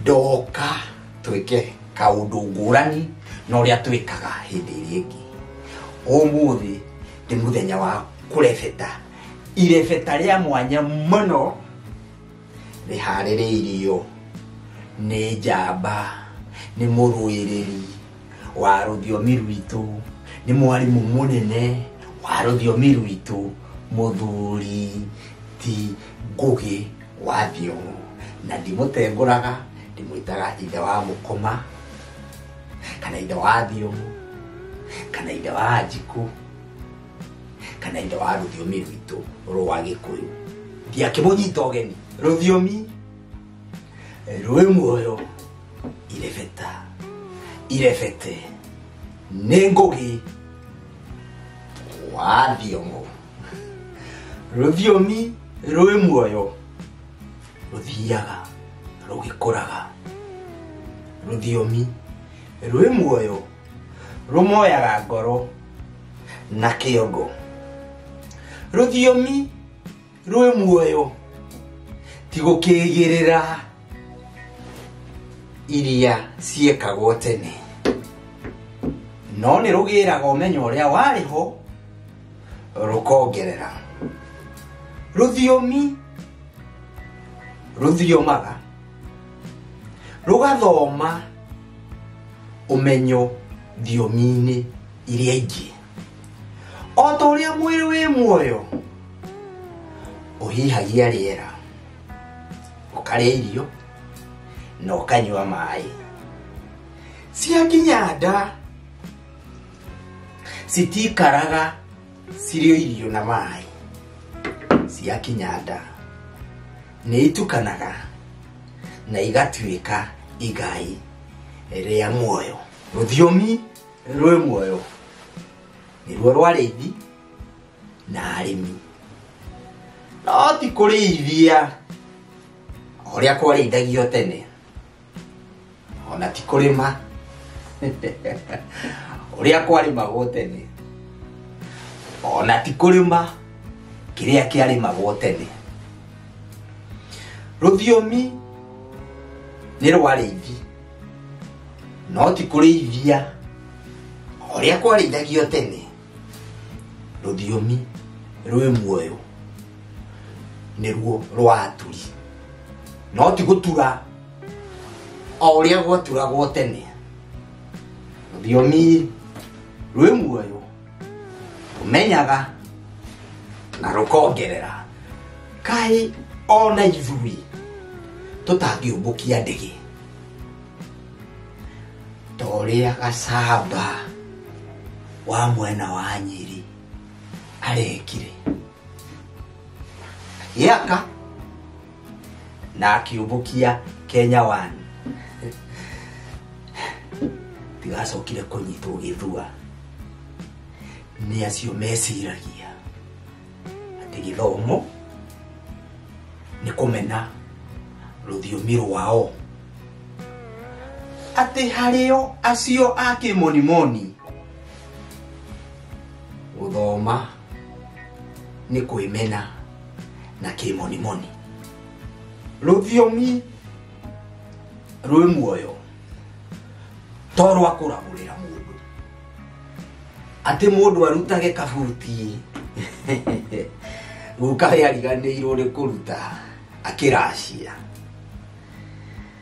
ndoka twĩke kaũndũ ngũrani na ũrĩa twĩkaga hĩndĩ ĩrĩa ĩngĩ ũmũthĩ nĩ mũthenya wa kũrebeta irebeta rĩa mwanya mũno rĩharĩrĩirio nĩ njamba nĩ mũrũĩrĩri wa rũthiomi rwitũ nĩ mwarimũ mũnene wa rũthiomi rwitũ mũthuri ti ngũgĩ wathiĩ ũũ na ndimũtengũraga ndimwĩtaga ithe wa mũkoma kana ithe wa thiũmũ kana ithe wa njikũ kana ithe wa rũthiomi rwitũ rwa gĩkũyũ ndiakĩmũnyita ũgeni rũthiomi rwĩ muoyo irebeta irebete nĩ ngũgĩ wa thiũmũ rũthiomi rwĩ muoyo rũthiaga rũgĩkũraga rũthiomi rwĩ muoyo rũmoyaga ngoro na kĩongo rũthiomi rwĩ muoyo ti gũkĩgĩrĩra iria ciekagwo tene no nĩ rũgĩraga ũmenyo ũrĩa warĩ ho rũkongerera rũthiomi rũthiomaga rũgathoma ũmenyo thiomi-inĩ iria ingĩ o ta ũrĩa mwĩrĩ wĩ muoyo ũhihagia rĩera ũkarĩa irio na ũkanyua maĩ ciakinya nda citikaraga cirĩ o irio na maĩ ciakinya nda nĩ itukanaga na igatuĩka igai rĩa muoyo rũthiomi rwĩ muoyo nĩruo rwarĩithi na arĩmi no ti kũrĩithia o ũrĩa kwarĩithagio tene ona ti kũrĩma ũrĩa kwarĩmagwo tene ona ti kũrĩma kĩrĩa kĩarĩmagwo tene rũthiomi nĩ rwarĩithi no ti kũrĩithia ũrĩa kwarĩithagio tene rũthiomi rwĩ muoyo nĩruo rwa aturi no ti gũtura o ũrĩa gwaturagwo tene rũthiomi rwĩ muoyo rũmenyaga na rũkongerera kaĩ ona ithuĩ tũtangĩũmbũkia ndege ta ũrĩa gacamba wa mwena wa nyĩrĩ arekire gĩaka na akiumbukia kenya wani tigacokire kũnyitwo gĩthua nĩ acio meciragia atĩ gĩthomo nĩ kũmena rũthiomi rwao atĩ harĩo acio a kĩmonimoni gũthoma nĩ kwĩmena na kĩmonimoni rũthiomi rwĩ muoyo to rwa kũragũrĩra mũndũ atĩ mũndũ arutage kabuti guka we ariganĩirwo nĩ kũruta akĩracia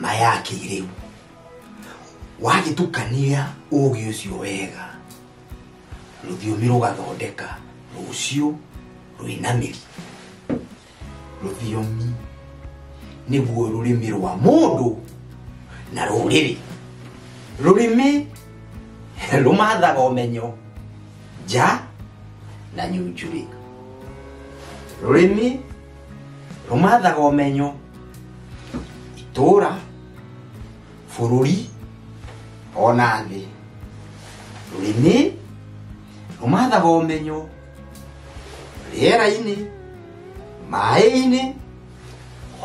na ya kĩrĩu wagĩtukania ũũgĩ ũcio wega rũthiomi rũgathondeka rũciũ rwĩna mĩri rũthiomi nĩguo rũrĩmĩ rwa mũndũ na rũrĩrĩ rũrĩmĩ rũmathaga ũmenyo nja na nyunjurĩ rũrĩmĩ rũmathaga ũmenyo itũũra bũrũri ona thĩ rũrĩmĩ rũmathaga ũmenyo rĩera-inĩ maĩ-inĩ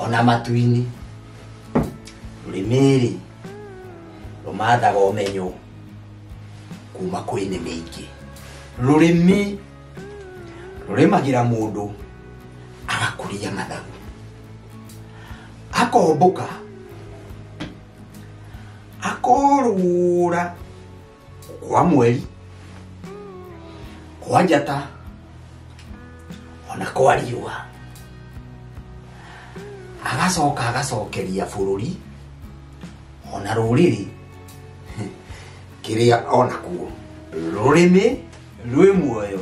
ona matu-inĩ rũrĩmĩrĩ rũmathaga ũmenyo kuma kwĩ nĩ mĩingĩ rũrĩmĩ rũrĩmagĩra mũndũ agakũria mathagu akombũka akorũra kwa mweri kwa njata ona kwa riũa agacoka agacokeria bũrũri ona rũrĩrĩ kĩrĩa onakuo rũrĩmĩ rwĩ muoyo